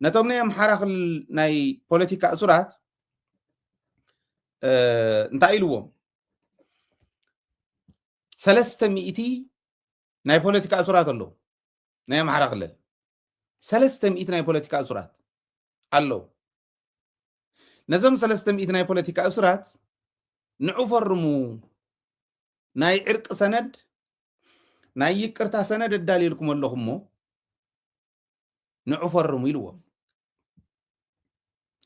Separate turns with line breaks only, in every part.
ነቶም ናይ ኣምሓራ ክልል ናይ ፖለቲካ እሱራት እንታይ ኢልዎም ሰለስተ ሚእቲ ናይ ፖለቲካ እሱራት ኣለዉ ናይ ኣምሓራ ክልል ሰለስተ ሚእቲ ናይ ፖለቲካ እሱራት ኣለዉ ነዞም ሰለስተ ሚእቲ ናይ ፖለቲካ እሱራት ንዑ ፈርሙ ናይ ዕርቂ ሰነድ ናይ ይቅርታ ሰነድ ኣዳልየልኩም ኣለኹ እሞ ንዑ ፈርሙ ኢልዎም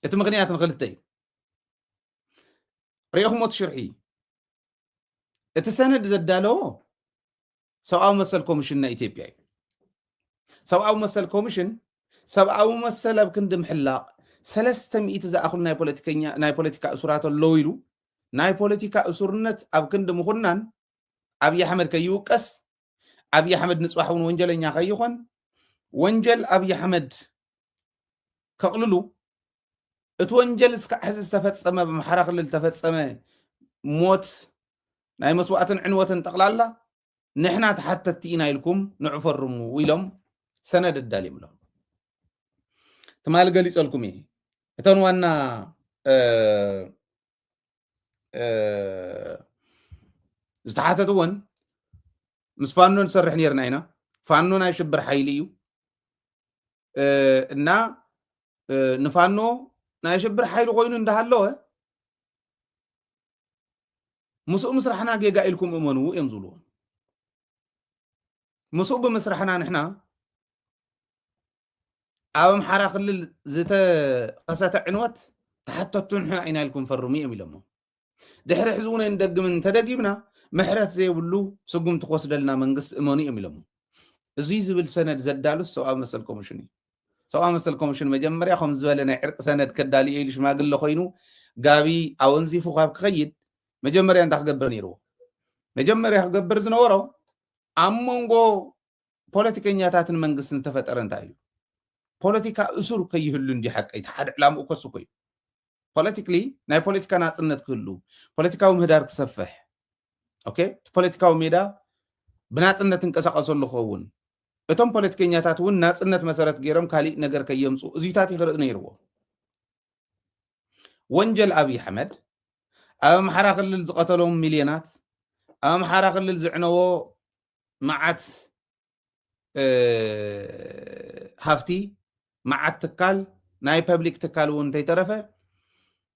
እቲ ምክንያት ንክልተ እዩ ሪኦኹሞ ትሽርሒ እዩ እቲ ሰነድ ዘዳለዎ ሰብኣዊ መሰል ኮሚሽን ናይ ኢትዮጵያ እዩ ሰብኣዊ መሰል ኮሚሽን ሰብኣዊ መሰል ኣብ ክንዲ ምሕላቕ ሰለስተ ሚእቲ ዝኣኽሉ ናይ ፖለቲካ እሱራት ኣለዉ ኢሉ ናይ ፖለቲካ እሱርነት ኣብ ክንዲ ምኹናን ኣብዪ ኣሕመድ ከይውቀስ ኣብዪ ኣሕመድ ንፅባሕ እውን ወንጀለኛ ከይኾን ወንጀል ኣብዪ ኣሕመድ ከቕልሉ እቲ ወንጀል እስካዕ ሕዚ ዝተፈፀመ ኣብ ኣምሓራ ክልል ዝተፈፀመ ሞት ናይ መስዋእትን ዕንወትን ጠቕላላ ንሕና ተሓተቲ ኢና ኢልኩም ንዑ ፈርሙ ኢሎም ሰነድ ኣዳልዮም ኣለዉ ትማሊ ገሊፀልኩም እየ እተን ዋና ዝተሓተት እውን ምስ ፋኖ ንሰርሕ ነርና ኢና ፋኖ ናይ ሽብር ሓይሊ እዩ እና ንፋኖ ናይ ሽብር ሓይሊ ኮይኑ እንዳሃለወ ምስኡ ምስራሕና ጌጋ ኢልኩም እመንዎ እዮም ዝብልዎ ምስኡ ብምስራሕና ንሕና ኣብ ኣምሓራ ክልል ዝተኸሰተ ዕንወት ተሓተቱ ንሕና ኢና ኢልኩም ፈርሙ እዮም ኢሎሞ ድሕሪ ሕዚ እውን ንደግምን እንተደጊምና ምሕረት ዘይብሉ ስጉምቲ ክወስደልና መንግስቲ እመኑ እዮም ኢሎሞ እዙይ ዝብል ሰነድ ዘዳሉስ ሰብኣዊ መሰል ኮሚሽን እዩ ሰብኣዊ መሰል ኮሚሽን መጀመርያ ከም ዝበለ ናይ ዕርቂ ሰነድ ከዳልዮ ኢሉ ሽማግለ ኮይኑ ጋቢ ኣወንዚፉ ካብ ክኸይድ መጀመርያ እንታይ ክገብር ነይርዎ መጀመርያ ክገብር ዝነበሮ ኣብ መንጎ ፖለቲከኛታትን መንግስትን ዝተፈጠረ እንታይ እዩ ፖለቲካ እሱር ከይህሉ እንዲ ሓቀ እቲ ሓደ ዕላምኡ ከሱ ኮዩ ፖለቲክሊ ናይ ፖለቲካ ናፅነት ክህሉ ፖለቲካዊ ምህዳር ክሰፍሕ ኦኬ እቲ ፖለቲካዊ ሜዳ ብናፅነት እንቀሳቀሰሉ ክኸውን እቶም ፖለቲከኛታት እውን ናፅነት መሰረት ገይሮም ካሊእ ነገር ከየምፁ እዚታት ይክርኢ ነይርዎ ወንጀል ኣብይ ኣሕመድ ኣብ ኣምሓራ ክልል ዝቐተሎም ሚልዮናት ኣብ ኣምሓራ ክልል ዝዕነዎ መዓት ሃፍቲ መዓት ትካል ናይ ፐብሊክ ትካል እውን እንተይተረፈ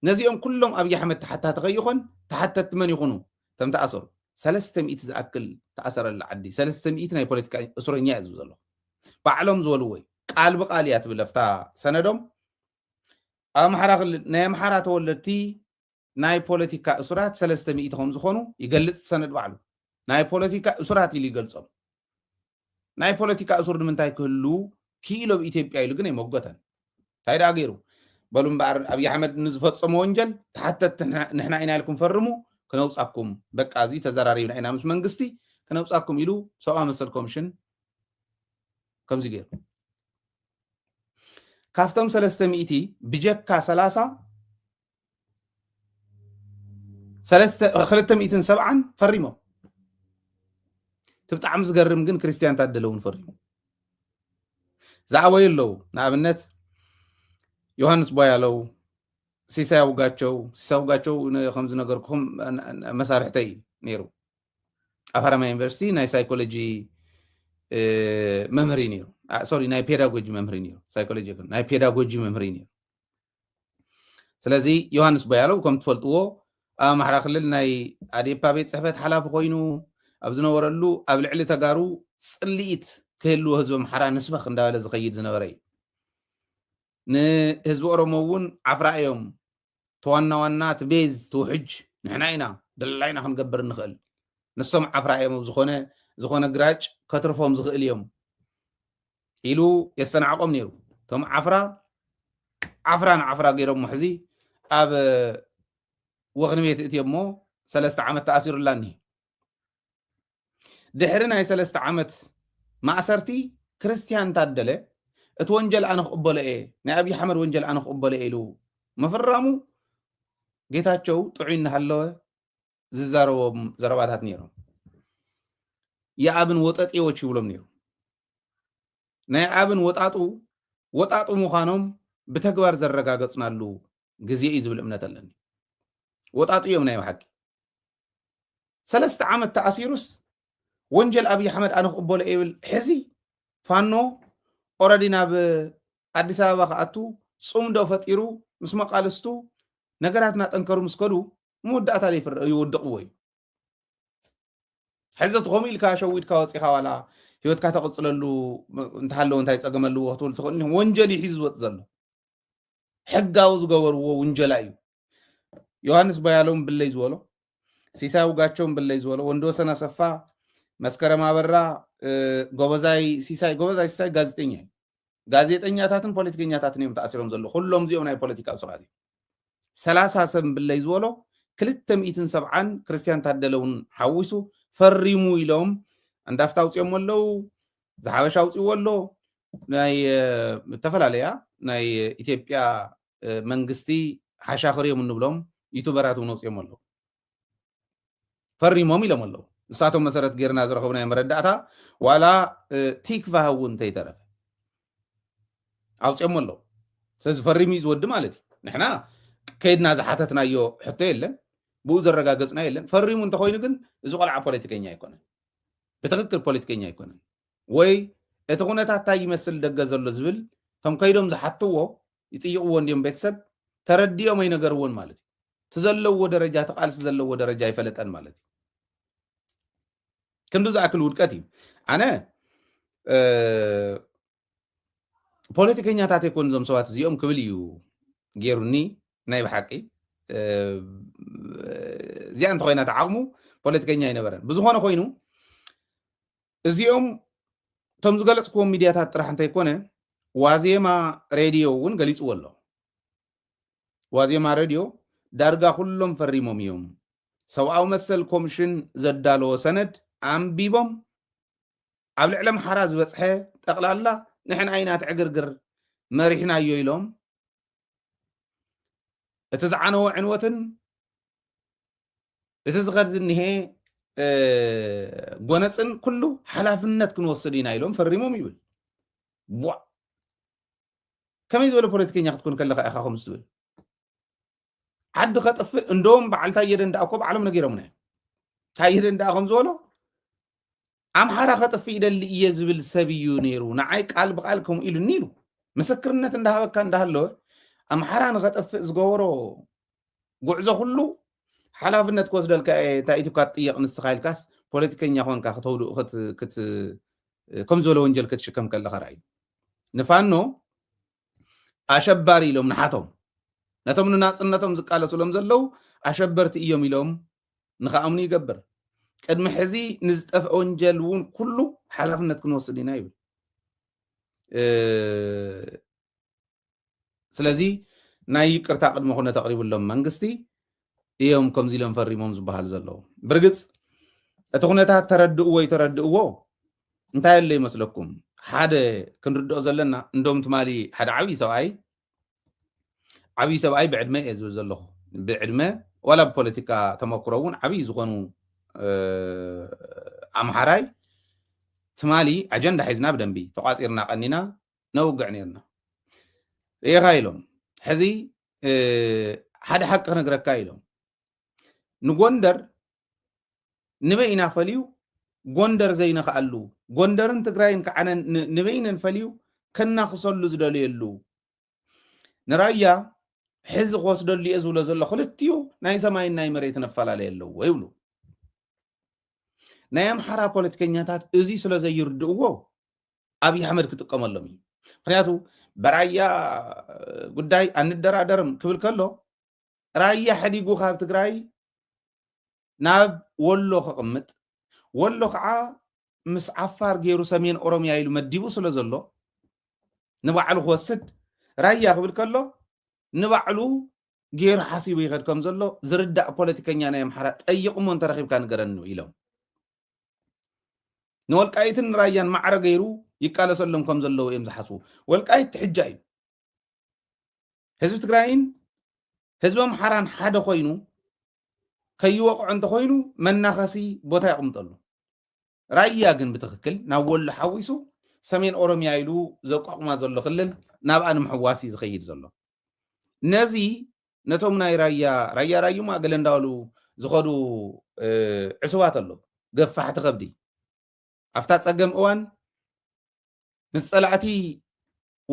ነዚኦም ኩሎም ኣብይ ኣሕመድ ተሓታቲ ከይኾን ተሓተቲ መን ይኹኑ ከም ተኣሰሩ ሰለስተ ሚእቲ ዝኣክል ተኣሰረላ ዓዲ ሰለስተ ሚእቲ ናይ ፖለቲካ እሱረኛ እዩ ዝብ ዘሎ ባዕሎም ዝበልዎ እዩ ቃል ብቃል እያ ትብል ኣብታ ሰነዶም ኣብ ኣምሓራ ክልል ናይ ኣምሓራ ተወለድቲ ናይ ፖለቲካ እሱራት ሰለስተ ሚእቲ ከም ዝኾኑ ይገልፅ ሰነድ ባዕሉ ናይ ፖለቲካ እሱራት ኢሉ ይገልፆም ናይ ፖለቲካ እሱር ንምንታይ ክህሉ ክኢሎ ብ ኢትዮጵያ ኢሉ ግን ኣይመጎተን እንታይ ደኣ ገይሩ በሉ እምበኣር ኣብዪ ኣሕመድ ንዝፈፀሙ ወንጀል ተሓተት ንሕና ኢና ኢልኩም ፈርሙ ክነውፃኩም በቃ እዚ ተዘራሪብና ኢና ምስ መንግስቲ ክነውፃኩም ኢሉ ሰብኣዊ መሰል ኮሚሽን ከምዚ ገይሩ ካብቶም ሰለስተ ሚእቲ ብጀካ ሰላሳ ክልተ ሚእትን ሰብዓን ፈሪሞም እቲ ብጣዕሚ ዝገርም ግን ክርስትያን ታደለ እውን ፈሪሙ ዝኣበዩ ኣለዉ ንኣብነት ዮሃንስ ቧያለው ሲሳይ ኣውጋቸው ሲሳይ ኣውጋቸው ከም ዝነገርኩም መሳርሕተይ እዩ ነይሩ ኣብ ሃረማያ ዩኒቨርሲቲ ናይ ሳይኮሎጂ መምህር እዩ ነይሩ ሶሪ ናይ ፔዳጎጂ መምህር እዩ ነይሩ ሳይኮሎጂ ይኹን ናይ ፔዳጎጂ መምህር እዩ ነይሩ ስለዚ ዮሃንስ ቦያለው ከም ትፈልጥዎ ኣብ ኣምሓራ ክልል ናይ ኣዴፓ ቤት ፅሕፈት ሓላፊ ኮይኑ ኣብ ዝነበረሉ ኣብ ልዕሊ ተጋሩ ፅልኢት ክህልዎ ህዝቢ ኣምሓራ ንስበኽ እንዳበለ ዝኸይድ ዝነበረ እዩ ንህዝቢ ኦሮሞ እውን ዓፍራ እዮም እቲ ዋና ዋና እቲ ቤዝ እቲ ውሕጅ ንሕና ኢና ደላይና ክንገብር ንኽእል ንሶም ዓፍራ እዮም ኣብ ዝኾነ ዝኾነ ግራጭ ከትርፎም ዝኽእል እዮም ኢሉ የስተናዕቆም ነይሩ እቶም ዓፍራ ዓፍራ ንዓፍራ ገይሮሞ ሕዚ ኣብ ወኽኒ ቤት እትዮ እሞ ሰለስተ ዓመት ተኣሲሩላኒ ድሕሪ ናይ ሰለስተ ዓመት ማእሰርቲ ክርስትያን ታደለ እቲ ወንጀል ኣነ ክቕበሎ እየ ናይ ኣብዪ ሓመድ ወንጀል ኣነ ክቕበሎ እየ ኢሉ ምፍራሙ ጌታቸው ጥዑይ እናሃለወ ዝዛረቦም ዘረባታት ነይሮም የኣብን ወጠጤዎች ይብሎም ነይሩ ናይ ኣብን ወጣጡ ወጣጡ ምዃኖም ብተግባር ዘረጋገፅናሉ ግዜ እዩ ዝብል እምነት ኣለኒ ወጣጡ እዮም ናይ ብሓቂ ሰለስተ ዓመት ተኣሲሩስ ወንጀል ኣብይ ኣሕመድ ኣነ ክቕበሎ ይብል ሕዚ ፋኖ ኦረዲ ናብ ኣዲስ ኣበባ ክኣቱ ፅምዶ ፈጢሩ ምስ መቃልስቱ ነገራት እናጠንከሩ ምስ ከዱ መወዳእታ ይውድቕዎ እዩ ሕዚ እቲ ከምኡ ኢልካ ሸዊድካ ወፂኻ ዋላ ሂወትካ ተቕፅለሉ እንተሃለዎ እንታይ ፀገም ኣለዎ ክትብል ትኽእል ወንጀል እዩ ሒዙ ዝወፅ ዘሎ ሕጋዊ ዝገበርዎ ውንጀላ እዩ ዮሃንስ ቦያለውን ብለይ ዝበሎ ሲሳይ ውጋቸውን ብለይ ዝበሎ ወንድ ወሰን ኣሰፋ መስከረም ኣበራ ጎበዛይ ሲሳይ ጎበዛይ ሲሳይ ጋዜጠኛ እዩ ጋዜጠኛታትን ፖለቲከኛታትን እዮም ተኣሲሮም ዘለዉ ኩሎም እዚኦም ናይ ፖለቲካ እሱራት እዮም ሰላሳ ሰብ ብለይ ዝበሎ ክልተ ሚእትን ሰብዓን ክርስትያን ታደለ እውን ሓዊሱ ፈሪሙ ኢሎም እንዳፍታ ኣውፅኦሞ ኣለው ዝሓበሻ ኣውፅዎ ኣሎ ናይ ዝተፈላለያ ናይ ኢትዮጵያ መንግስቲ ሓሻኽር እዮም እንብሎም ዩቱበራት እውን ወፂኦም ኣለዉ ፈሪሞም ኢሎም ኣለዉ ንሳቶም መሰረት ጌርና ዝረኸብናዮ መረዳእታ ዋላ ቲክቫህ እውን እንተይተረፈ ኣውፅኦም ኣለዉ ስለዚ ፈሪሙ እዩ ዝወዲ ማለት እዩ ንሕና ከይድና ዝሓተትናዮ ሕቶ የለን ብኡ ዘረጋገፅና የለን ፈሪሙ እንተኮይኑ ግን እዚ ቆልዓ ፖለቲከኛ ኣይኮነን ብትክክል ፖለቲከኛ ኣይኮነን ወይ እቲ ኩነታት ታይ ይመስል ደገ ዘሎ ዝብል እቶም ከይዶም ዝሓትዎ ይጥይቕዎ እንድዮም ቤተሰብ ተረዲኦም ኣይነገርዎን ማለት እዩ እቲ ዘለዎ ደረጃ እቲ ቃልሲ ዘለዎ ደረጃ ኣይፈለጠን ማለት እዩ ክንዱ ዝኣክል ውድቀት እዩ ኣነ ፖለቲከኛታት ኣይኮን እዞም ሰባት እዚኦም ክብል እዩ ገይሩኒ ናይ ብሓቂ እዚኣ እንተኮይና ተዓቕሙ ፖለቲከኛ ኣይነበረን ብዝኾነ ኮይኑ እዚኦም እቶም ዝገለፅክዎም ሚድያታት ጥራሕ እንተይኮነ ዋዜማ ሬድዮ እውን ገሊፅዎ ኣሎ። ዋዜማ ሬድዮ ዳርጋ ኩሎም ፈሪሞም እዮም። ሰብኣዊ መሰል ኮምሽን ዘዳለዎ ሰነድ ኣንቢቦም ኣብ ልዕሊ ኣምሓራ ዝበፅሐ ጠቕላላ ንሕና ኢና እቲ ዕግርግር መሪሕናዮ ኢሎም እቲ ዝዓነወ ዕንወትን እቲ ዝኸድ ዝኒሀ ጎነፅን ኩሉ ሓላፍነት ክንወስድ ኢና ኢሎም ፈሪሞም ይብል ቧዕ ከመይ ዝበለ ፖለቲከኛ ክትኮን ከለካ ኢኻ ከምዚ ትብል ዓዲ ከጥፍእ እንደውም በዓል ታየ ደንደኣ እኮ ባዕሎም ነጊሮምና እዮም ታየ ደንደኣ ከም ዝበሎ ኣምሓራ ከጥፍእ ይደሊ እየ ዝብል ሰብ እዩ ነይሩ ንዓይ ቃል ብቃል ከምኡ ኢሉኒ ኢሉ ምስክርነት እንዳሃበካ እንዳሃለወ ኣምሓራ ንኸጠፍእ ዝገበሮ ጉዕዞ ኩሉ ሓላፍነት ክወስደልካ እየ እንታይ ኢትካ ትጥየቕ ንስኻ ኢልካስ ፖለቲከኛ ኮንካ ክተውድኡ ከም ዝበለ ወንጀል ክትሽከም ከለኻ ርኣዩ ንፋኖ ኣሸባሪ ኢሎም ንሓቶም ነቶም ንናጽነቶም ዝቃለሱሎም ዘለው ኣሸበርቲ እዮም ኢሎም ንኸኣምኑ ይገብር ቅድሚ ሕዚ ንዝጠፍአ ወንጀል እውን ኩሉ ሓላፍነት ክንወስድ ኢና ይብል ስለዚ ናይ ይቅርታ ቅድመ ኩነት ኣቕሪብሎም መንግስቲ እዮም ከምዚ ኢሎም ፈሪሞም ዝበሃል ዘለዉ ብርግፅ እቲ ኩነታት ተረድእዎ ይተረድእዎ እንታይ ኣሎ ይመስለኩም ሓደ ክንርድኦ ዘለና እንዶም ትማሊ ሓደ ዓብዪ ሰብኣይ ዓብዪ ሰብኣይ ብዕድመ እየ ዝብል ዘለኹ ብዕድመ ዋላ ብፖለቲካ ተመክሮ እውን ዓብዪ ዝኾኑ ኣምሓራይ ትማሊ ኣጀንዳ ሒዝና ብደንቢ ተቋፂርና ቀኒና ነውግዕ ነርና ርኢኻ ኢሎም ሕዚ ሓደ ሓቂ ክነግረካ ኢሎም ንጎንደር ንበይ ኢና ፈልዩ ጎንደር ዘይነኽኣሉ ጎንደርን ትግራይን ከዓነ ንበይነን ፈልዩ ከናኽሰሉ ዝደልየሉ ንራያ ሕዚ ክወስደሉ እየ ዝብሎ ዘሎ ክልትኡ ናይ ሰማይን ናይ መሬት ነፈላለየ ኣለዎ ይብሉ ናይ ኣምሓራ ፖለቲከኛታት እዚ ስለ ዘይርድእዎ ኣብይ ኣሕመድ ክጥቀመሎም እዩ ምክንያቱ ብራያ ጉዳይ ኣንደራደርም ክብል ከሎ ራያ ሕዲጉ ካብ ትግራይ ናብ ወሎ ክቕምጥ ወሎ ከዓ ምስ ዓፋር ገይሩ ሰሜን ኦሮምያ ኢሉ መዲቡ ስለ ዘሎ ንባዕሉ ክወስድ ራያ ክብል ከሎ ንባዕሉ ገይሩ ሓሲቡ ይኸድ ከም ዘሎ ዝርዳእ ፖለቲከኛ ናይ ኣምሓራ ጠይቕሞ እንተረኺብካ ንገረኒ ኢሎም ንወልቃይትን ራያን ማዕረ ገይሩ ይቃለሰሎም ከም ዘለዎ እዮም ዝሓስቡ ወልቃይት ትሕጃ እዩ ህዝቢ ትግራይን ህዝቢ ኣምሓራን ሓደ ኮይኑ ከይወቕዖ እንተኮይኑ መናኸሲ ቦታ የቕምጠሉ ራያ ግን ብትክክል ናብ ወሎ ሓዊሱ ሰሜን ኦሮሚያ ኢሉ ዘቋቑማ ዘሎ ክልል ናብኣ ንምሕዋስ እዩ ዝኸይድ ዘሎ ነዚ ነቶም ናይ ራያ ራያ ራዩማ ገለ እንዳበሉ ዝኸዱ ዕሱባት ኣለዉ ገፋሕቲ ከብዲ ኣብታ ፀገም እዋን ምስ ፀላእቲ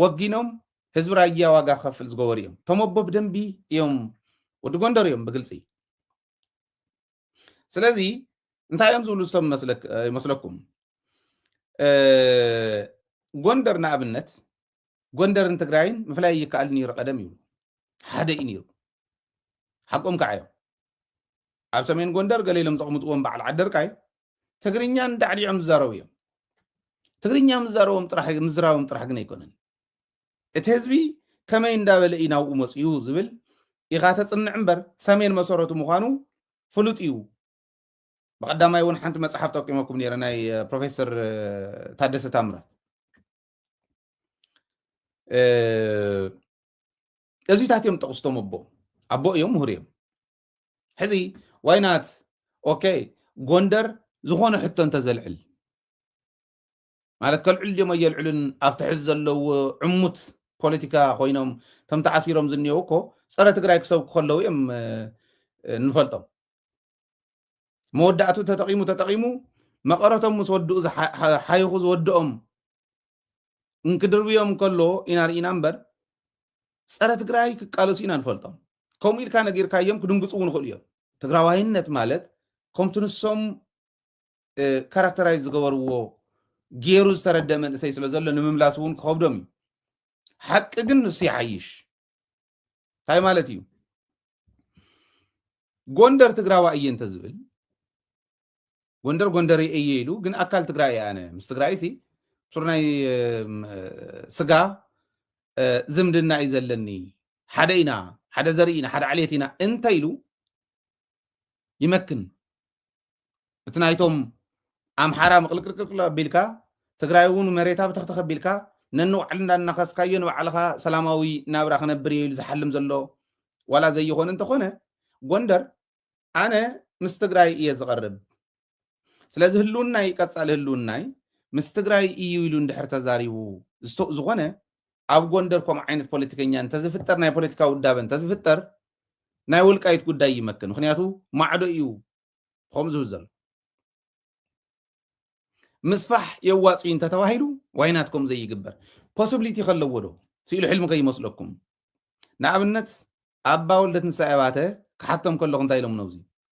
ወጊኖም ህዝቢ ራያ ዋጋ ክኸፍል ዝገበሩ እዮም ተመቦ ብደንቢ እዮም ወዲ ጎንደር እዮም ብግልፂ ስለዚ እንታይ እዮም ዝብሉ ዝሰብ ይመስለኩም ጎንደር ንኣብነት ጎንደርን ትግራይን ምፍላይ ይከኣል ነይሩ ቀደም ይብሉ ሓደ እዩ ነይሩ ሓቆም ከዓ እዮም ኣብ ሰሜን ጎንደር ገለ ኢሎም ዘቕምጥዎም በዓል ዓደርቃይ ትግርኛን ዳዕዲዖም ዝዛረቡ እዮም ትግርኛ ምዛረቦም ጥራሕ ምዝራቦም ጥራሕ ግን ኣይኮነን እቲ ህዝቢ ከመይ እንዳበለ እዩ ናብኡ መጺኡ ዝብል ኢኻ ተጽንዕ እምበር ሰሜን መሰረቱ ምዃኑ ፍሉጥ እዩ። ብቐዳማይ እውን ሓንቲ መጽሓፍ ጠቂመኩም ነይረ ናይ ፕሮፌሰር ታደሰ ታምራት እዚታት እዮም ጠቕስቶም ኣቦ ኣቦ እዮም ምሁር እዮም ሕዚ ዋይናት ኦኬ ጎንደር ዝኾነ ሕቶ እንተዘልዕል ማለት ከልዕሉ ድዮም ኣየልዕሉን ኣብቲ ሕዚ ዘለዎ ዕሙት ፖለቲካ ኮይኖም ከም ተኣሲሮም ዝኒአው እኮ ፀረ ትግራይ ክሰብኩ ከለው እዮም ንፈልጦም መወዳእቱ ተጠቂሙ ተጠቂሙ መቐረቶም ምስ ወድኡ ሓይኹ ዝወድኦም እንክድርብዮም ከሎ ኢና ርኢና እምበር ፀረ ትግራይ ክቃለሱ ኢና ንፈልጦም ከምኡ ኢልካ ነጊርካዮም ክድንግፁ እውን ይኽእሉ እዮም ትግራዋይነት ማለት ከምቲ ንሶም ካራክተራይዝ ዝገበርዎ ገይሩ ዝተረደ መንእሰይ ስለ ዘሎ ንምምላስ እውን ክኸብዶም እዩ ሓቂ ግን ንሱ ይሓይሽ እንታይ ማለት እዩ ጎንደር ትግራዋ እየ እንተዝብል ጎንደር ጎንደር እየ ኢሉ ግን ኣካል ትግራይ እየ ኣነ ምስ ትግራይ ሲ ሱር ናይ ስጋ ዝምድና እዩ ዘለኒ ሓደ ኢና ሓደ ዘርኢ ኢና ሓደ ዓሌት ኢና እንተ ኢሉ ይመክን እቲ ናይቶም ኣምሓራ ምቕልቅልቅልቅል ኣቢልካ ትግራይ እውን መሬታ ብተኽተኽ ኣቢልካ ነንባዕሉ እንዳናኸስካዮ ንባዕልኻ ሰላማዊ ናብራ ክነብር እየ ኢሉ ዝሓልም ዘሎ ዋላ ዘይኾነ እንተኾነ ጎንደር ኣነ ምስ ትግራይ እየ ዝቐርብ ስለዚ ህልውናይ ቀፃሊ ህልውናይ ምስ ትግራይ እዩ ኢሉ እንድሕር ተዛሪቡ ዝኾነ ኣብ ጎንደር ከምኡ ዓይነት ፖለቲከኛ እንተዝፍጠር ናይ ፖለቲካ ውዳበ እንተዝፍጠር ናይ ወልቃይት ጉዳይ ይመክን ምክንያቱ ማዕዶ እዩ ከምኡ ዝብል ዘሎ ምስፋሕ የዋፅ እዩ እንተተባሂሉ ዋይናት ከም ዘይግበር ፖስብሊቲ ከለዎ ዶ ስኢሉ ሕልሚ ከይመስለኩም ንኣብነት ኣባ ወልደትንሳኤ ባተ ክሓቶም ከለኹ እንታይ ኢሎም ነብዚ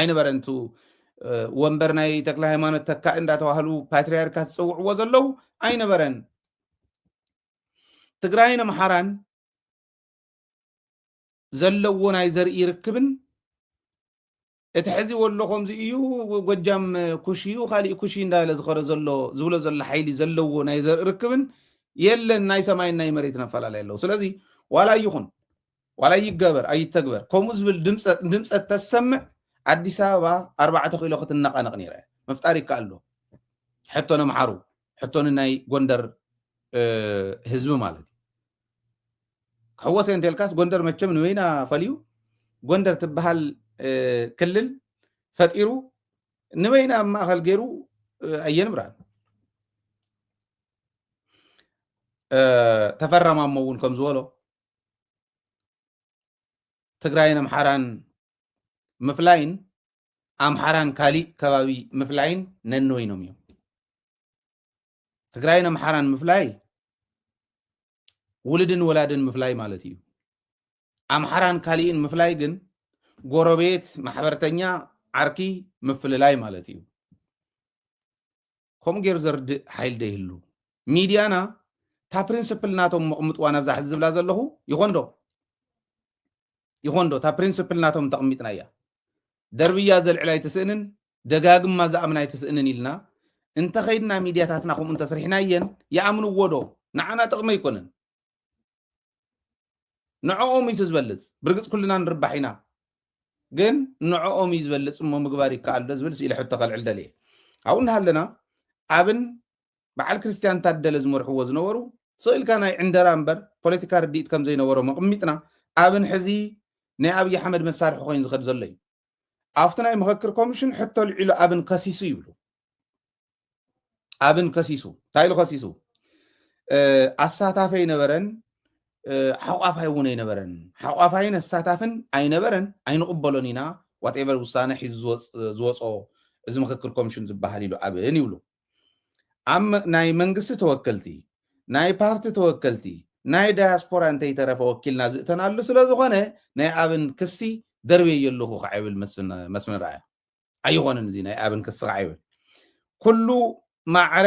ኣይነበረን እቱ ወንበር ናይ ተክለ ሃይማኖት ተካኢ እንዳተባህሉ ፓትሪያርካት ዝፅውዕዎ ዘለው ኣይነበረን ትግራይን ኣምሓራን ዘለዎ ናይ ዘርኢ ርክብን እቲ ሕዚ ወሎ ከምዚ እዩ ጎጃም ኩሽ እዩ ካሊእ ኩሽ እንዳለ ዝኸረ ዘሎ ዝብሎ ዘሎ ሓይሊ ዘለዎ ናይ ዘርኢ ርክብን የለን ናይ ሰማይን ናይ መሬትን ኣፈላለየ ኣለዉ ስለዚ ዋላ ይኹን ዋላ ይገበር ኣይተግበር ከምኡ ዝብል ድምፀት ተሰምዕ ኣዲስ ኣበባ ኣርባዕተ ኪሎ ክትነቃነቅ ነይራ እያ ምፍጣር ይከኣል ዶ ሕቶ ነምሓሩ ሕቶ ንናይ ጎንደር ህዝቢ ማለት እዩ ክሕወሰ እንተልካስ ጎንደር መቸም ንበይና ፈልዩ ጎንደር ትበሃል ክልል ፈጢሩ ንበይና ኣብ ማእኸል ገይሩ ኣየንብራን ተፈራማሞ እውን ከም ዝበሎ ትግራይን ኣምሓራን ምፍላይን ኣምሓራን ካሊእ ከባቢ ምፍላይን ነንወይኖም እዮም። ትግራይን ኣምሓራን ምፍላይ ውልድን ወላድን ምፍላይ ማለት እዩ። ኣምሓራን ካሊእን ምፍላይ ግን ጎረቤት፣ ማሕበርተኛ፣ ዓርኪ ምፍልላይ ማለት እዩ። ከምኡ ገይሩ ዘርድእ ሓይሊ ዶ ይህሉ? ሚድያና እታ ፕሪንስፕል ናቶም መቕምጥዋ ናብዛ ሕዚ ዝብላ ዘለኹ ይኾን ዶ ይኾን ዶ እታ ፕሪንስፕል ናቶም እንተቕሚጥና እያ ደርብያ ዘልዕል ኣይትስእንን ደጋግማ ዝኣምን ኣይትስእንን ኢልና እንተኸይድና ሚድያታትና ከምኡ እንተስሪሕና እየን ይኣምንዎ ዶ ንዓና ጥቕሚ ኣይኮነን ንዕኦም እዩ እቲ ዝበልፅ ብርግፅ ኩልና ንርባሕ ኢና ግን ንዕኦም እዩ ዝበልፅ እሞ ምግባር ይከኣል ዶ ዝብል ስኢለ ሕቶ ከልዕል ደልየ ኣብኡ እናሃለና ኣብን በዓል ክርስትያን ታደለ ዝመርሕዎ ዝነበሩ ስኢልካ ናይ ዕንደራ እምበር ፖለቲካ ርድኢት ከም ዘይነበሮም ኣቕሚጥና ኣብን ሕዚ ናይ ኣብዪ ኣሕመድ መሳርሒ ኮይኑ ዝኸድ ዘሎ እዩ ኣብቲ ናይ ምኸክር ኮሚሽን ሕቶ ኣልዒሉ ኣብን ከሲሱ ይብሉ ኣብን ከሲሱ እንታይ ኢሉ ከሲሱ ኣሳታፊ ኣይነበረን ሓቋፋይ እውን ኣይነበረን ሓቋፋይን ኣሳታፍን ኣይነበረን ኣይንቕበሎን ኢና ዋትኤቨር ውሳነ ሒዙ ዝወፅኦ እዚ ምክክር ኮሚሽን ዝበሃል ኢሉ ኣብን ይብሉ ኣብ ናይ መንግስቲ ተወከልቲ፣ ናይ ፓርቲ ተወከልቲ፣ ናይ ዳያስፖራ እንተይተረፈ ወኪልና ዝእተናሉ ስለዝኾነ ናይ ኣብን ክሲ ደርብየዮ ኣለኹ ከዓ ይብል መስፍን ርኣያ። ኣይኾንን እዚ ናይ ኣብን ክሲ ከዓ ይብል ኩሉ ማዕረ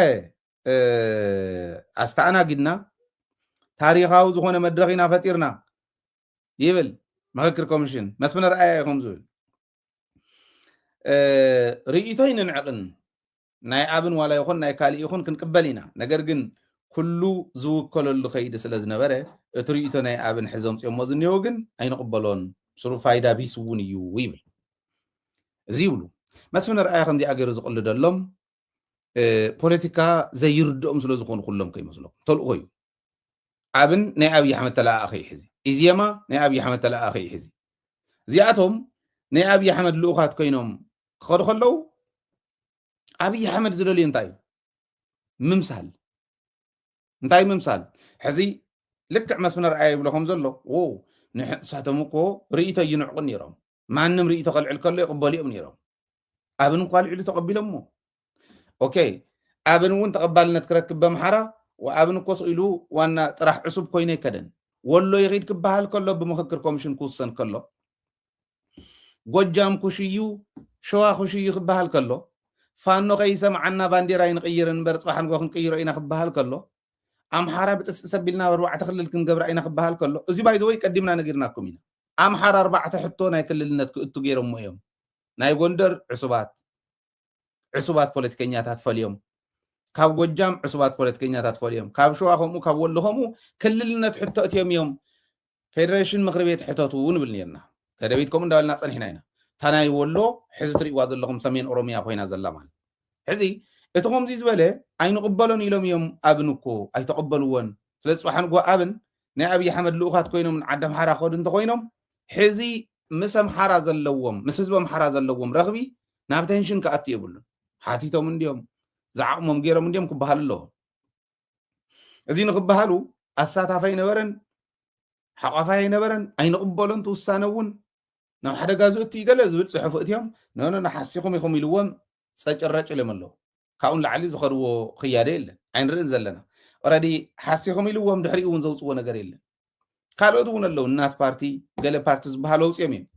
ኣስተኣናጊድና ታሪኻዊ ዝኾነ መድረኽ ኢና ፈጢርና ይብል ምኽክር ኮሚሽን መስፍን ርኣያ እዩ ከምዝብል ርእይቶይ ንንዕቕን ናይ ኣብን ዋላ ይኹን ናይ ካልእ ይኹን ክንቅበል ኢና ነገር ግን ኩሉ ዝውከለሉ ከይዲ ስለ ዝነበረ እቲ ርእይቶ ናይ ኣብን ሕዘ ምፅኦሞ ዝኒኦ ግን ኣይንቕበሎን ስሩ ፋይዳ ቢስ እውን እዩ ይብል እዚ ይብሉ መስፍን ርኣያ ከምዚኣ ገይሩ ዝቕልደሎም ፖለቲካ ዘይርድኦም ስለ ዝኾኑ ኩሎም ከይመስሎም ተልእኾ እዩ ኣብን ናይ ኣብዪ ኣሕመድ ተለኣኣኸ እዩ ሕዚ ኢዜማ ናይ ኣብዪ ኣሕመድ ተለኣኣኸ እዩ ሕዚ እዚኣቶም ናይ ኣብዪ ኣሕመድ ልኡኻት ኮይኖም ክኸዱ ከለዉ ኣብዪ ኣሕመድ ዝደልዩ እንታይ እዩ ምምሳል እንታይ ምምሳል ሕዚ ልክዕ መስፍነ ርኣየ ይብሎ ከም ዘሎ ንሳቶም እኮ ርእይቶ ይንዕቑ ነይሮም ማንም ርእይቶ ከልዕል ከሎ ይቕበሉ እዮም ነይሮም ኣብን እንኳ ልዕሉ ተቐቢሎሞ ኦኬ ኣብን እውን ተቐባልነት ክረክብ በምሓራ ወኣብን እኮ ስኢሉ ዋና ጥራሕ ዕሱብ ኮይኑ ኣይከደን ወሎ ይኺድ ክበሃል ከሎ ብምክክር ኮሚሽን ክውሰን ከሎ ጎጃም ኩሽዩ ሸዋ ኩሽዩ ክበሃል ከሎ ፋኖ ከይሰምዓና ባንዴራ ይንቅይር እንበር ፅባሕ ንጎ ክንቅይሮ ኢና ክበሃል ከሎ ኣምሓራ ብጥስጢ ሰቢልና ኣርባዕተ ክልል ክንገብራ ኢና ክበሃል ከሎ እዚ ባይዘወይ ቀዲምና ነጊርናኩም ኢና ኣምሓራ ኣርባዕተ ሕቶ ናይ ክልልነት ክእቱ ገይሮሞ እዮም ናይ ጎንደር ዕሱባት ዕሱባት ፖለቲከኛታት ፈልዮም ካብ ጎጃም ዕሱባት ፖለቲከኛታት ፈልዮም ካብ ሸዋ ከምኡ ካብ ወሎ ከምኡ ክልልነት ሕቶ እትዮም እዮም ፌደሬሽን ምክሪ ቤት ሕተቱ ንብል ነርና ተደቢት ከምኡ እንዳበልና ፀኒሕና ኢና እታ ናይ ወሎ ሕዚ ትሪእዋ ዘለኹም ሰሜን ኦሮሚያ ኮይና ዘላ ማለት ሕዚ እቲ ከምዚ ዝበለ ኣይንቕበሎን ኢሎም እዮም ኣብን እኮ ኣይተቐበልዎን ስለ ዝፅባሓ ንጎ ኣብን ናይ ኣብዪ ኣሕመድ ልኡኻት ኮይኖም ንዓዲ ኣምሓራ ክኸዱ እንተኾይኖም ሕዚ ምስ ኣምሓራ ዘለዎም ምስ ህዝቢ ኣምሓራ ዘለዎም ረኽቢ ናብ ተንሽን ክኣቱ የብሉን ሓቲቶም እንዲዮም ዝዓቕሞም ገይሮም እንዲዮም ክበሃሉ ኣለዎ እዚ ንክበሃሉ ኣሳታፍ ኣይነበረን ሓቋፋይ ኣይነበረን ኣይንቕበሎን ትውሳነ እውን ናብ ሓደጋ ዝእቱ ይገለ ዝብል ፅሑፍ እትዮም ነኖ ንሓሲኹም ኢኹም ኢልዎም ፀጭረጭ ኢሎም ኣለዉ ካብኡ ንላዕሊ ዝኸድዎ ክያደ የለን ኣይንርእን ዘለና ኦረዲ ሓሲኹም ኢልዎም ድሕሪኡ እውን ዘውፅዎ ነገር የለን ካልኦት እውን ኣለዉ እናት ፓርቲ ገለ ፓርቲ ዝበሃል ወውፅኦም እዮም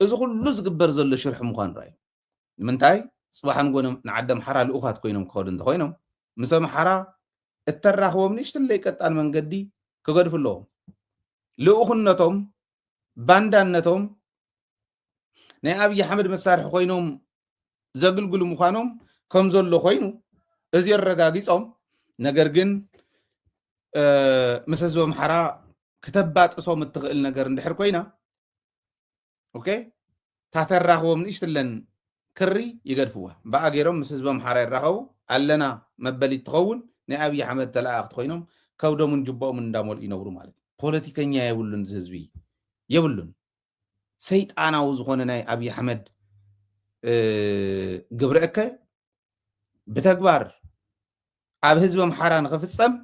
እዚ ኩሉ ዝግበር ዘሎ ሽርሒ ምዃኑ ራዩ ንምንታይ ፅባሕ ንጎ ንዓዲ ኣምሓራ ልኡኻት ኮይኖም ክኸዱ እንተኮይኖም ምስ ኣምሓራ እተራኽቦም ንእሽትለይ ቀጣን መንገዲ ክገድፉ ኣለዎም ልኡኽነቶም ባንዳነቶም ናይ ኣብዪ ኣሕመድ መሳርሒ ኮይኖም ዘግልግሉ ምዃኖም ከም ዘሎ ኮይኑ እዚ ኣረጋጊፆም ነገር ግን ምስ ህዝቢ ኣምሓራ ክተባጥሶም እትኽእል ነገር እንድሕር ኮይና ኦኬ ታተራኽቦም ንእሽትለን ክሪ ይገድፍዋ በኣ ገይሮም ምስ ህዝቢ ኣምሓራ ይራኸቡ ኣለና መበሊ ትኸውን ናይ ኣብዪ ኣሕመድ ተለኣእኽቲ ኮይኖም ከብዶምን ጅቦኦምን እንዳመልኡ ይነብሩ ማለት እዩ ፖለቲከኛ የብሉን እዚ ህዝቢ የብሉን ሰይጣናዊ ዝኾነ ናይ ኣብዪ ኣሕመድ ግብረ እከ ብተግባር ኣብ ህዝቢ ኣምሓራ ንኽፍፀም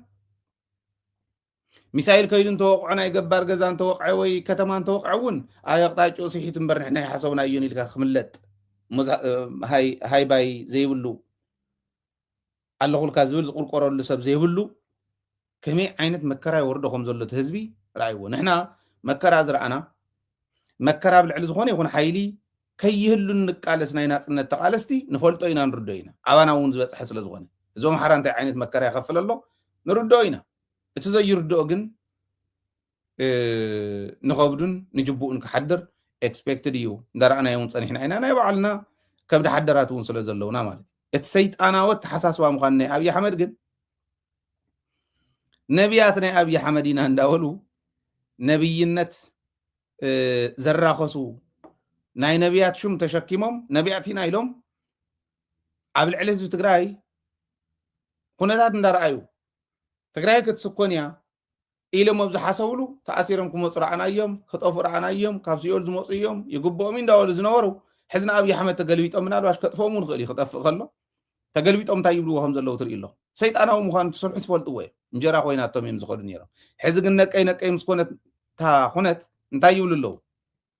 ሚሳይል ከይዱ እንተወቕዖ ናይ ገባር ገዛ እንተወቕዐ ወይ ከተማ እንተወቕዐ እውን ኣብ ኣቕጣጭኡ ስሒቱ እምበር ንሕና ይሓሰብናዮን ኢልካ ክምለጥ ሃይባይ ዘይብሉ ኣለኹልካ ዝብል ዝቁርቆረሉ ሰብ ዘይብሉ ከመይ ዓይነት መከራ ይወርዶ ከም ዘሎ እቲ ህዝቢ ርኣይዎ ንሕና መከራ ዝረኣና መከራ ኣብ ልዕሊ ዝኾነ ይኹን ሓይሊ ከይህሉ እንቃለስ ናይ ናጽነት ተቓለስቲ ንፈልጦ ኢና ንርዶ ኢና ኣባና እውን ዝበጽሐ ስለ ዝኾነ እዞም ሓራ እንታይ ዓይነት መከራ ይኸፍል ኣሎ ንርድኦ ኢና እቲ ዘይርድኦ ግን ንኸብዱን ንጅቡኡን ክሓድር ኤክስፔክትድ እዩ እንዳረኣናዮ እውን ፀኒሕና ኢና ናይ ባዕልና ከብዲ ሓደራት እውን ስለ ዘለውና ማለት እዩ እቲ ሰይጣናዊ ኣተሓሳስባ ምዃኑ ናይ ኣብዪ ኣሕመድ ግን ነቢያት ናይ ኣብዪ ኣሕመድ ኢና እንዳበሉ ነብይነት ዘራኸሱ ናይ ነቢያት ሹም ተሸኪሞም ነቢያት ኢና ኢሎም ኣብ ልዕሊ ህዝቢ ትግራይ ኩነታት እንዳረኣዩ ትግራይ ክትስኮን እያ ኢሎም ኣብ ዝሓሰብሉ ተኣሲሮም ክመፁ ረኣናዮም፣ ክጠፍኡ ረኣናዮም፣ ካብ ሲኦል ዝመፁ እዮም፣ ይግብኦም እዩ እንዳበሉ ዝነበሩ ሕዚ ንኣብይ ኣሕመድ ተገልቢጦም ምናልባሽ ከጥፍኦም እውን ይኽእል እዩ ክጠፍእ ከሎ ተገልቢጦም እንታይ ይብልዎ ከም ዘለዉ ትርኢ ኣሎ ሰይጣናዊ ምዃኑ ትስርሑ ትፈልጥዎ እዮም እንጀራ ኮይናቶም እዮም ዝኸዱ ነይሮም ሕዚ ግን ነቀይ ነቀይ ምስ ኮነት እታ ኩነት እንታይ ይብሉ ኣለዉ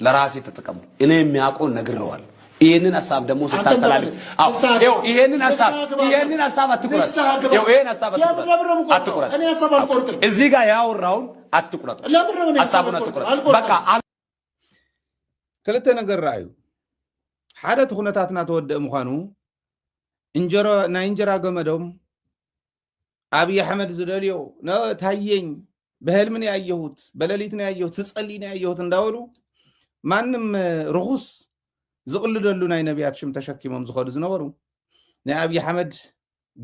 ለራሴ ተጠቀምኩ እኔ የሚያውቀው ነግረዋል። ይህንን ሀሳብ ደግሞ ስታስተላልፍ ይህንን ሀሳብ ይህንን ሀሳብ አትቁረጥ። ይህን ሀሳብ አትቁረጥ።
እዚህ ጋር ያወራውን
አትቁረጥ። ሀሳቡን አትቁረጥ። በቃ
ክልተ ነገር ረኣዩ ሓደ እቲ ኩነታትና ተወደእ ምዃኑ ናይ እንጀራ ገመዶም ኣብይ ኣሕመድ ዝደልዮ ታየኝ በህልሚ ነው ያየሁት፣ በሌሊት ነው ያየሁት፣ ስጸልይ ነው ያየሁት እንዳበሉ ማንም ርኹስ ዝቕልደሉ ናይ ነቢያት ሽም ተሸኪሞም ዝኸዱ ዝነበሩ ናይ ኣብይ ኣሕመድ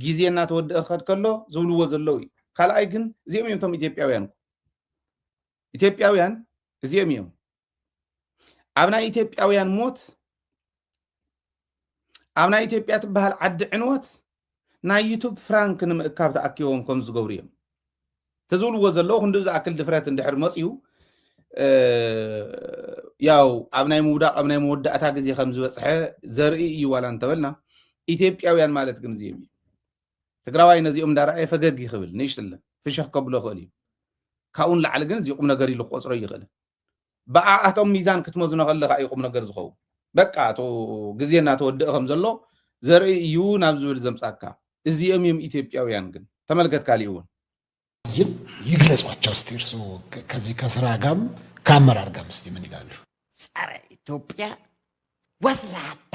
ግዜ እናተወድአ ክኸድ ከሎ ዝብልዎ ዘለዉ እዩ። ካልኣይ ግን እዚኦም እዮም እቶም ኢትዮጵያውያን ኢትዮጵያውያን እዚኦም እዮም ኣብ ናይ ኢትዮጵያውያን ሞት ኣብ ናይ ኢትዮጵያ ትበሃል ዓዲ ዕንወት ናይ ዩቱብ ፍራንክ ንምእካብ ተኣኪቦም ከም ዝገብሩ እዮም እቲ ዝብልዎ ዘለዉ ክንዲ ዝኣክል ድፍረት እንድሕር መፅኡ ያው ኣብ ናይ ምውዳቕ ኣብ ናይ መወዳእታ ግዜ ከም ዝበፅሐ ዘርኢ እዩ ዋላ እንተበልና ኢትዮጵያውያን ማለት ግን እዚኦም እዩ ትግራዋይ ነዚኦም እንዳረኣየ ፈገግ ይክብል ንእሽትለን ፍሸኽ ከብሎ ይኽእል እዩ ካብኡ ንላዕሊ ግን እዚ ቁም ነገር ኢሉ ክቆፅሮ ይኽእልን ብኣኣቶም ሚዛን ክትመዝኖ ከለካ እዩ ቁምነገር ዝኸውን በቃ እቱ ግዜ እናተወድእ ከም ዘሎ ዘርኢ እዩ ናብ ዝብል ዘምጻካ እዚኦም እዮም ኢትዮጵያውያን ግን ተመልከት ካሊእ እውን
ይግለጿቸው እስቲ እርሱ ከዚህ ከስራ ጋም ከአመራር ጋም እስቲ ምን ይላሉ? ጸረ
ኢትዮጵያ ወስላታ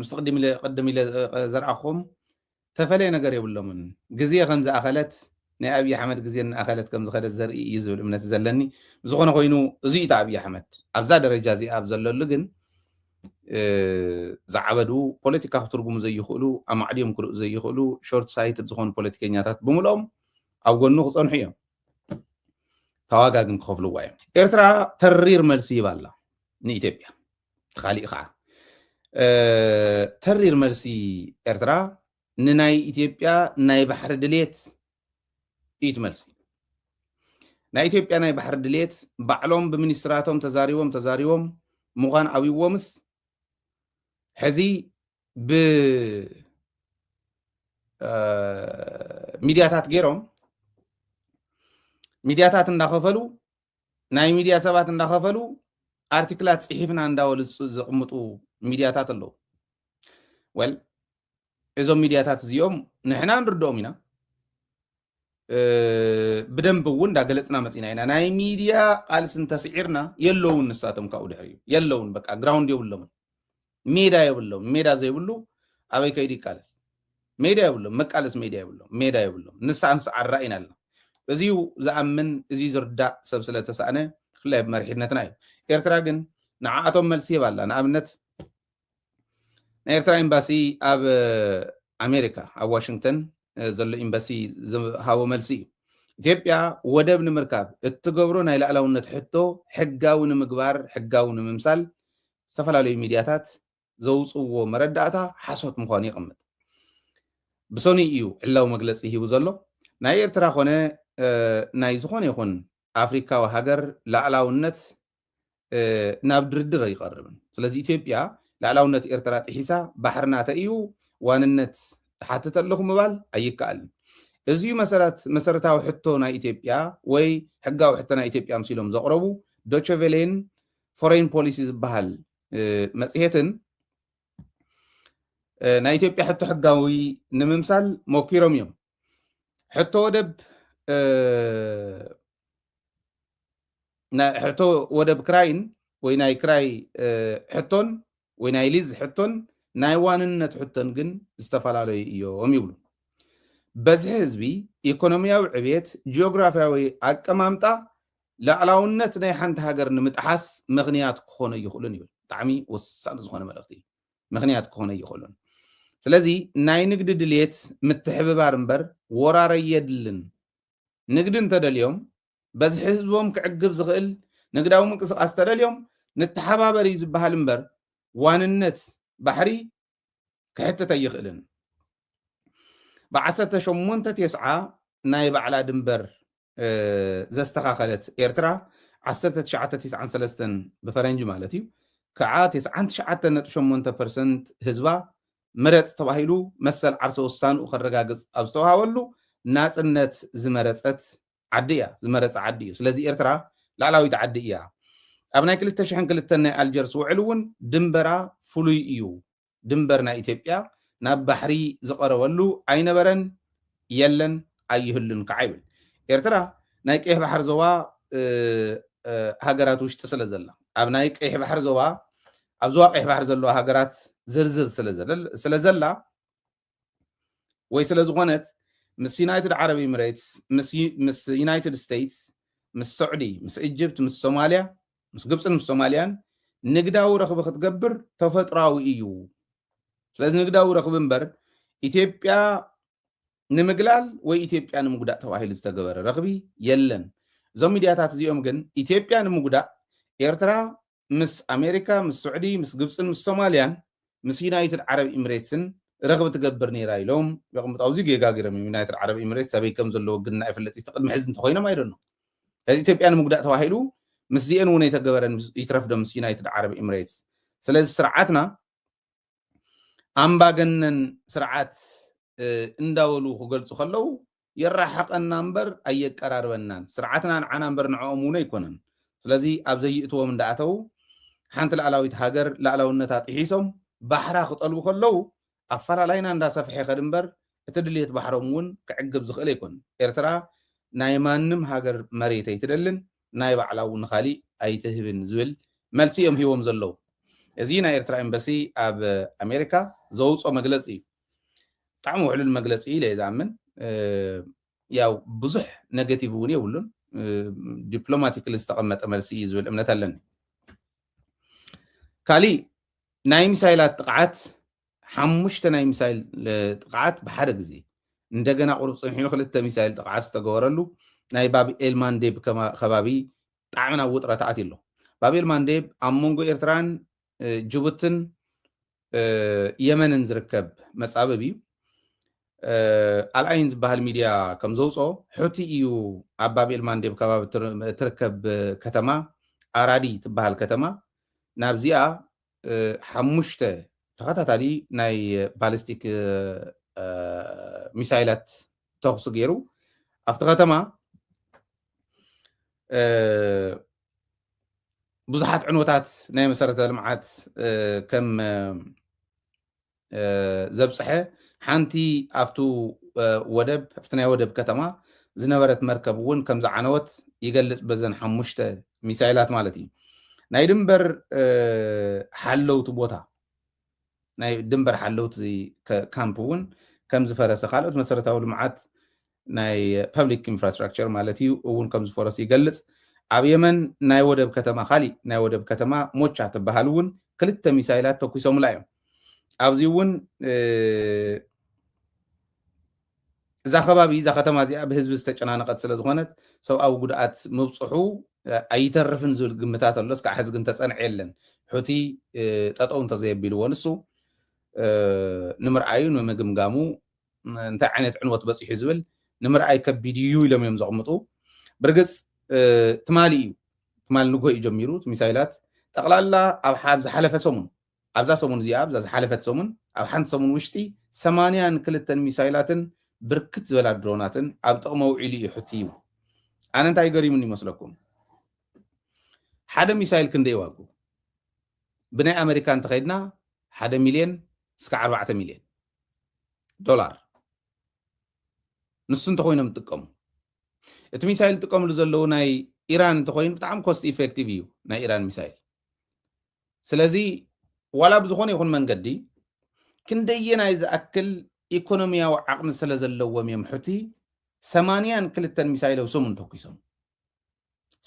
ምስ ቅድም ኢለ ቅድም ኢለ ዘርኣኹም ተፈለየ ነገር የብሎምን ግዜ ከም ዝኣኸለት ናይ ኣብዪ ኣሕመድ ግዜ እናኣኸለት ከም ዝኸደት ዘርኢ እዩ ዝብል እምነት ዘለኒ ዝኾነ ኮይኑ እዚ እዩ ኣብዪ ኣሕመድ ኣብዛ ደረጃ እዚኣ ኣብ ዘለሉ ግን ዝዓበዱ ፖለቲካ ክትርጉሙ ዘይኽእሉ ኣማዕድዮም ክርኡ ዘይኽእሉ ሾርት ሳይትድ ዝኾኑ ፖለቲከኛታት ብምልኦም ኣብ ጎኑ ክፀንሑ እዮም ተዋጋ ግን ክኸፍልዋ እዮም ኤርትራ ተሪር መልሲ ይባላ ንኢትዮጵያ ካሊእ ከዓ ተሪር መልሲ ኤርትራ ንናይ ኢትዮጵያ ናይ ባሕሪ ድሌት እዩ ትመልሲ ናይ ኢትዮጵያ ናይ ባሕሪ ድሌት ባዕሎም ብሚኒስትራቶም ተዛሪቦም ተዛሪቦም ምዃን ኣብዎምስ ሕዚ ብሚድያታት ገይሮም ሚድያታት እንዳኸፈሉ ናይ ሚድያ ሰባት እንዳኸፈሉ ኣርቲክላት ፅሒፍና እንዳበሉ ዘቕምጡ ሚድያታት ኣለዉ ወል እዞም ሚድያታት እዚኦም ንሕና ንርድኦም ኢና ብደንብ እውን እንዳገለፅና መፂና ኢና ናይ ሚድያ ቃልሲ እንተስዒርና የለውን ንሳቶም ካብኡ ድሕሪ የለውን በቃ ግራውንድ የብሎምን ሜዳ የብሎም ሜዳ ዘይብሉ ኣበይ ከይዱ ይቃለስ ሜዳ የብሎም መቃለስ ሜዳ የብሎም ሜዳ የብሎም ንሳዕ ንሳዕ ኣራኢና ኣለና እዚዩ ዝኣምን እዚ ዝርዳእ ሰብ ስለተሳእነ ብፍላይ ኣብ መሪሕነትና እዩ ኤርትራ ግን ንዓኣቶም መልሲ ይህብ ኣላ ንኣብነት ናይ ኤርትራ ኤምባሲ ኣብ ኣሜሪካ ኣብ ዋሽንግተን ዘሎ ኤምባሲ ዝሃቦ መልሲ እዩ ኢትዮጵያ ወደብ ንምርካብ እትገብሮ ናይ ላዕላውነት ሕቶ ሕጋዊ ንምግባር ሕጋዊ ንምምሳል ዝተፈላለዩ ሚድያታት ዘውፅዎ መረዳእታ ሓሶት ምዃኑ የቕምጥ። ብሰኑይ እዩ ዕላዊ መግለፂ ሂቡ ዘሎ። ናይ ኤርትራ ኮነ ናይ ዝኾነ ይኹን ኣፍሪካዊ ሃገር ላዕላውነት ናብ ድርድር ኣይቐርብን። ስለዚ ኢትዮጵያ ላዕላውነት ኤርትራ ጥሒሳ ባሕርና ተእዩ ዋንነት እሓትት ኣለኹ ምባል ኣይከኣልን። እዚዩ መሰረት መሰረታዊ ሕቶ ናይ ኢትዮጵያ ወይ ሕጋዊ ሕቶ ናይ ኢትዮጵያ ኣምሲሎም ዘቕረቡ ዶቸቬሌን ፎሬን ፖሊሲ ዝበሃል መፅሄትን ናይ ኢትዮጵያ ሕቶ ሕጋዊ ንምምሳል ሞኪሮም እዮም ሕቶ ወደብ ሕቶ ወደብ ክራይን ወይ ናይ ክራይ ሕቶን ወይ ናይ ሊዝ ሕቶን ናይ ዋንነት ሕቶን ግን ዝተፈላለዩ እዮም ይብሉ። በዝሒ ህዝቢ፣ ኢኮኖሚያዊ ዕብየት፣ ጂኦግራፊያዊ ኣቀማምጣ ላዕላውነት ናይ ሓንቲ ሃገር ንምጥሓስ ምኽንያት ክኾኑ ኣይኽእሉን ይብል። ብጣዕሚ ወሳኒ ዝኾነ መልእኽቲ እዩ። ምኽንያት ክኾኑ ኣይኽእሉን። ስለዚ ናይ ንግዲ ድልየት ምትሕብባር እምበር ወራር ኣየድልን። ንግዲ እንተደልዮም በዝሒ ህዝቦም ክዕግብ ዝኽእል ንግዳዊ ምንቅስቃስ ተደልዮም ንተሓባበር እዩ ዝበሃል እምበር ዋንነት ባሕሪ ክሕትት ኣይኽእልን። ብዓሰርተ ሸሞንተ ቴስዓ ናይ ባዕላ ድንበር ዘስተኻኸለት ኤርትራ ዓሰርተ ትሽዓተ ቴስዓን ሰለስተን ብፈረንጂ ማለት እዩ ከዓ ቴስዓን ትሽዓተ ነጥቢ ሸሞንተ ፐርሰንት ህዝባ ምረፅ ተባሂሉ መሰል ዓርሰ ውሳንኡ ከረጋግፅ ኣብ ዝተውሃበሉ ናፅነት ዝመረፀት ዓዲ እያ ዝመረጸ ዓዲ እዩ ስለዚ ኤርትራ ላዕላዊት ዓዲ እያ ኣብ ናይ ክልተ ሽሕን ክልተን ናይ ኣልጀርስ ውዕል እውን ድንበራ ፍሉይ እዩ ድንበር ናይ ኢትዮጵያ ናብ ባሕሪ ዝቐረበሉ ኣይነበረን የለን ኣይህሉን ከዓ ይብል ኤርትራ ናይ ቀይሕ ባሕር ዞባ ሃገራት ውሽጢ ስለ ዘላ ኣብ ናይ ቀይሕ ባሕር ዞባ ኣብ ዞባ ቀይሕ ባሕር ዘለዋ ሃገራት ዝርዝር ስለ ዘላ ወይ ስለ ዝኾነት ምስ ዩናይትድ ዓረብ ኢምሬትስ ምስ ዩናይትድ ስቴትስ ምስ ሰዑዲ ምስ እጅብት ምስ ሶማልያ ምስ ግብፅን ምስ ሶማልያን ንግዳዊ ረኽቢ ክትገብር ተፈጥራዊ እዩ ስለዚ ንግዳዊ ረኽቢ እምበር ኢትዮጵያ ንምግላል ወይ ኢትዮጵያ ንምጉዳእ ተባሂሉ ዝተገበረ ረኽቢ የለን እዞም ሚድያታት እዚኦም ግን ኢትዮጵያ ንምጉዳእ ኤርትራ ምስ ኣሜሪካ፣ ምስ ስዑዲ፣ ምስ ግብጽን ምስ ሶማልያን ምስ ዩናይትድ ዓረብ ኢምሬትስን ረኽቢ ትገብር ነይራ ኢሎም የቕምጡ። ኣብዚ ጌጋ ገይሮም እዮም። ዩናይትድ ዓረብ ኢምሬትስ ኣበይ ከም ዘለዎ ግን ኣይፍለጥ እዩ። እቲ ቅድሚ ሕዚ እንተኾይኖም ኣይ ዶንት ኖው። ስለዚ ኢትዮጵያ ንምጉዳእ ተባሂሉ ምስዚኤን እውን ኣይተገበረን ይትረፍዶ ምስ ዩናይትድ ዓረብ ኢምሬትስ። ስለዚ ስርዓትና ኣምባገነን ስርዓት እንዳበሉ ክገልጹ ከለዉ የራሕቐና እምበር ኣየቀራርበናን ስርዓትና ንዓና እምበር ንዕኦም እውን ኣይኮነን ስለዚ ኣብ ዘይእትዎም እንዳኣተዉ ሓንቲ ላዕላዊት ሃገር ላዕላውነታ ጥሒሶም ባሕራ ክጠልቡ ከለዉ ኣፈላላይና እንዳሰፍሐ ይኸድ እምበር እቲ ድልየት ባሕሮም እውን ክዕግብ ዝኽእል ኣይኮነን ኤርትራ ናይ ማንም ሃገር መሬት ኣይትደልን ናይ ባዕላ ውን ንካሊእ ኣይትህብን ዝብል መልሲ እዮም ሂቦም ዘለዉ። እዚ ናይ ኤርትራ ኤምበሲ ኣብ ኣሜሪካ ዘውጾ መግለጺ እዩ። ብጣዕሚ ውሕሉል መግለጺ ኢለ እየ ዝኣምን። ያው ብዙሕ ነገቲቭ እውን የብሉን። ዲፕሎማቲክሊ ዝተቐመጠ መልሲ እዩ ዝብል እምነት ኣለኒ። ካሊእ ናይ ሚሳይላት ጥቕዓት ሓሙሽተ ናይ ሚሳይል ጥቕዓት ብሓደ ግዜ፣ እንደገና ቁሩብ ጽንሒሉ ክልተ ሚሳይል ጥቕዓት ዝተገበረሉ ናይ ባብ ኤልማንዴብ ከባቢ ብጣዕሚ ናብ ውጥረት ኣትዩ ኣሎ። ባብ ኤልማንዴብ ኣብ መንጎ ኤርትራን ጅቡትን የመንን ዝርከብ መጻብብ እዩ። ኣልኣይን ዝበሃል ሚድያ ከም ዘውፅኦ ሑቲ እዩ ኣብ ባብ ኤልማንዴብ ከባቢ እትርከብ ከተማ ኣራዲ ትበሃል ከተማ ናብዚኣ ሓሙሽተ ተኸታታሊ ናይ ባሊስቲክ ሚሳይላት ተኹሲ ገይሩ ኣብቲ ከተማ ብዙሓት ዕንወታት ናይ መሰረተ ልምዓት ከም ዘብጽሐ ሓንቲ ኣብቱ ወደብ ኣብቲ ናይ ወደብ ከተማ ዝነበረት መርከብ እውን ከም ዝዓነወት ይገልጽ በዘን ሓሙሽተ ሚሳይላት ማለት እዩ ናይ ድንበር ሓለውቲ ቦታ ናይ ድንበር ሓለውቲ ካምፕ እውን ከም ዝፈረሰ ካልኦት መሰረታዊ ልምዓት ናይ ፐብሊክ ኢንፍራስትራክቸር ማለት እዩ እውን ከም ዝፈረሱ ይገልጽ። ኣብ የመን ናይ ወደብ ከተማ ካሊእ ናይ ወደብ ከተማ ሞቻ ትበሃል እውን ክልተ ሚሳይላት ተኩሶምላ እዮም። ኣብዚ እውን እዛ ከባቢ እዛ ከተማ እዚኣ ብህዝቢ ዝተጨናነቐት ስለ ዝኾነት ሰብኣዊ ጉድኣት ምብፅሑ ኣይተርፍን ዝብል ግምታት ኣሎ። እስካዕ ሕዚ ግን ተፀንዐ የለን። ሑቲ ጠጠው እንተዘየቢልዎ ንሱ ንምርኣዩ ንምግምጋሙ እንታይ ዓይነት ዕንወት በፂሑ ዝብል ንምርኣይ ከቢድ እዩ ኢሎም እዮም ዘቕምጡ። ብርግፅ ትማሊ እዩ ትማሊ ንግሆ እዩ ጀሚሩ እቲ ሚሳይላት ጠቕላላ ኣብ ሓብ ዝሓለፈ ሰሙን ኣብዛ ሰሙን እዚኣ ኣብዛ ዝሓለፈት ሰሙን ኣብ ሓንቲ ሰሙን ውሽጢ ሰማንያን ክልተን ሚሳይላትን ብርክት ዝበላ ድሮናትን ኣብ ጥቕሚ ውዒሉ እዩ ሕቲ እዩ ኣነ እንታይ ገሪሙኒ ይመስለኩም ሓደ ሚሳይል ክንደይ ዋጉ ብናይ ኣመሪካ እንተኸይድና ሓደ ሚልዮን እስከ ዓርባዕተ ሚልዮን ዶላር ንሱ እንተኮይኖም ዝጥቀሙ እቲ ሚሳይል ዝጥቀምሉ ዘለዉ ናይ ኢራን እንተኮይኑ ብጣዕሚ ኮስት ኢፌክቲቭ እዩ ናይ ኢራን ሚሳይል ስለዚ ዋላ ብዝኮነ ይኹን መንገዲ ክንደየናይ ዝኣክል ኢኮኖሚያዊ ዓቕሚ ስለ ዘለዎም እዮም ሕቲ ሰማንያን ክልተን ሚሳይል ኣብ ሰሙን ተኩሶም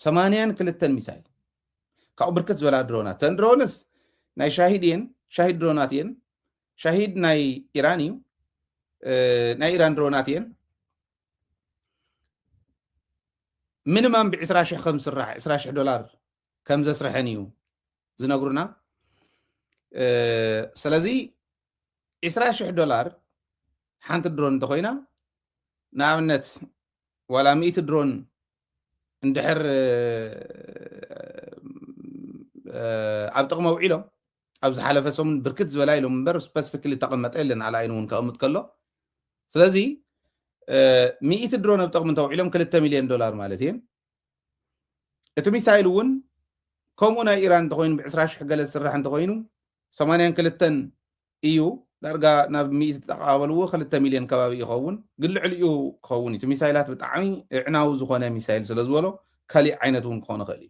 ሰማንያን ክልተን ሚሳይል ካብኡ ብርክት ዝበላ ድሮናት ተን ድሮንስ ናይ ሻሂድ እየን ሻሂድ ድሮናት እየን ሻሂድ ናይ ኢራን እዩ ናይ ኢራን ድሮናት እየን ምንማም ብዕስራ ሽሕ ከም ዝስራሕ ዕስራ ሽሕ ዶላር ከም ዘስርሐን እዩ ዝነግሩና ስለዚ 20,000 ዶላር ሓንቲ ድሮን እንተኾይና ንኣብነት ዋላ ሚእቲ ድሮን እንድሕር ኣብ ጥቕሚ ኣውዒሎም ኣብ ዝሓለፈ ሰሙን ብርክት ዝበላ ኢሎም እምበር ስፐሲፊክሊ ተቐመጠ የለን ኣልኣይን እውን ከቐምጥ ከሎ ስለዚ ሚእቲ ድሮን ኣብ ጥቕሚ እንተውዒሎም ክልተ ሚልዮን ዶላር ማለት እየን እቲ ሚሳይል እውን ከምኡ ናይ ኢራን እንተኮይኑ ብዕስራ ሽሕ ገለ ዝስራሕ እንተኮይኑ ሰማንያን ክልተን እዩ ዳርጋ ናብ ሚእቲ ተተቀባበልዎ ክልተ ሚልዮን ከባቢ ይኸውን ግን ልዕሊኡ ክኸውን እዩ እቲ ሚሳይላት ብጣዕሚ እዕናዊ ዝኾነ ሚሳይል ስለ ዝበሎ ካሊእ ዓይነት እውን ክኾን ይኽእል እዩ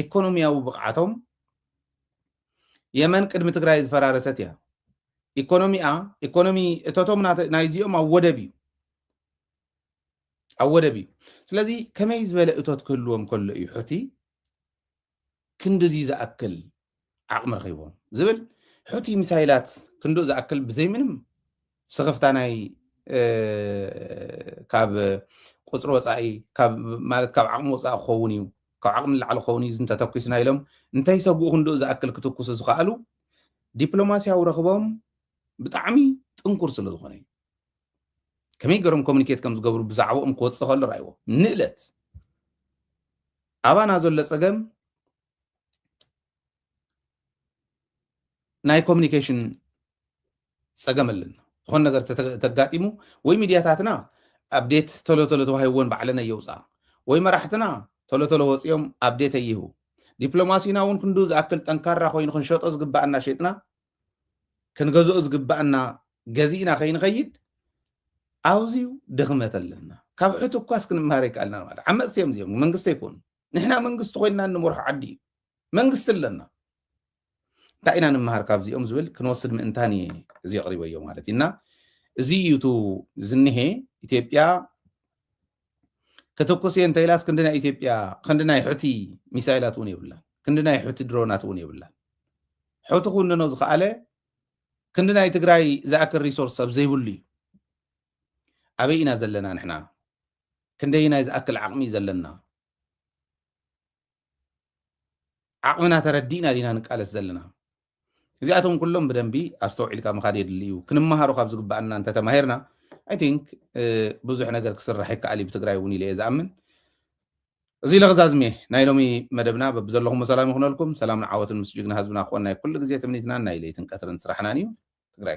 ኢኮኖሚያዊ ብቕዓቶም የመን ቅድሚ ትግራይ ዝፈራረሰት እያ ኢኮኖሚኣ ኢኮኖሚ እቶቶም ናይዚኦም ኣብ ወደብ እዩ ኣብ ወደብ እዩ ስለዚ ከመይ ዝበለ እቶት ክህልዎም ከሎ እዩ ሑቲ ክንድዚ ዝኣክል ዓቕሚ ረኺቦም ዝብል ሑቲ ሚሳይላት ክንድኡ ዝኣክል ብዘይ ምንም ስኽፍታ ናይ ካብ ቁፅሪ ወፃኢ ማለት ካብ ዓቕሚ ወፃኢ ክኸውን እዩ ካብ ዓቕሚ ንላዕሊ ክኸውን እዩ እንተተኪስና ኢሎም እንተይሰግኡ ክንድኡ ዝኣክል ክትኩሱ ዝኸኣሉ ዲፕሎማስያዊ ረኽቦም ብጣዕሚ ጥንኩር ስለ ዝኾነ እዩ ከመይ ገሮም ኮሙኒኬት ከም ዝገብሩ ብዛዕባኦም ክወፅእ ከሎ ራይዎ ንእለት ኣባና ዘሎ ፀገም ናይ ኮሚኒኬሽን ፀገም ኣለና ዝኾነ ነገር ተጋጢሙ ወይ ሚድያታትና ኣብዴት ቶሎ ቶሎ ተዋሂብዎን ባዕለን ኣየውፅኣ ወይ መራሕትና ቶሎ ቶሎ ወፂኦም ኣብዴት ኣይህቡ ዲፕሎማሲና እውን ክንዱ ዝኣክል ጠንካራ ኮይኑ ክንሸጦ ዝግባኣና ሸጥና ክንገዝኦ ዝግባኣና ገዚእና ከይንኸይድ ኣውዚዩ ድኽመት ኣለና ካብ ሕቱ እኳስ ክንምሃር ይከኣልና ማለት ዓመፅቲ እዮም እዚኦም መንግስቲ ኣይኮኑ ንሕና መንግስቲ ኮይንና እንመርሖ ዓዲ እዩ መንግስቲ ኣለና እንታይ ኢና ንምሃር ካብዚኦም ዝብል ክንወስድ ምእንታን እየ እዚ ኣቕሪበዮ ማለት እዩ እና እዚ እዩ እቲ ዝኒሄ ኢትዮጵያ ክትኩስ እየ እንተኢላስ ክንዲ ናይ ኢትዮጵያ ክንዲ ናይ ሑቲ ሚሳይላት እውን የብላን ክንዲ ናይ ሑቲ ድሮናት እውን የብላን ሑቲ ክውንኖ ዝኸኣለ ክንዲ ናይ ትግራይ ዝኣክል ሪሶርስ ሰብ ዘይብሉ እዩ ኣበይ ኢና ዘለና ንሕና ክንደይ ናይ ዝኣክል ዓቕሚ እዩ ዘለና ዓቕምና ተረዲእና ዲና ንቃለስ ዘለና እዚኣቶም ኩሎም ብደንቢ ኣስተውዒልካ ምኻድ የድሊ እዩ ክንመሃሮ ካብ ዝግባኣና እንተተማሂርና ኣይ ቲንክ ብዙሕ ነገር ክስራሕ ይከኣል እዩ ብትግራይ እውን ኢለ እየ ዝኣምን እዚ ለኽዛዝሜ ናይ ሎሚ መደብና በብዘለኹም ሰላም ይኹነልኩም ሰላምን ዓወትን ምስ ጅግና ህዝብና ክኾንናይ ኩሉ ግዜ ትምኒትናን ናይ ለይትን ቀትርን ስራሕናን እዩ ትግራይ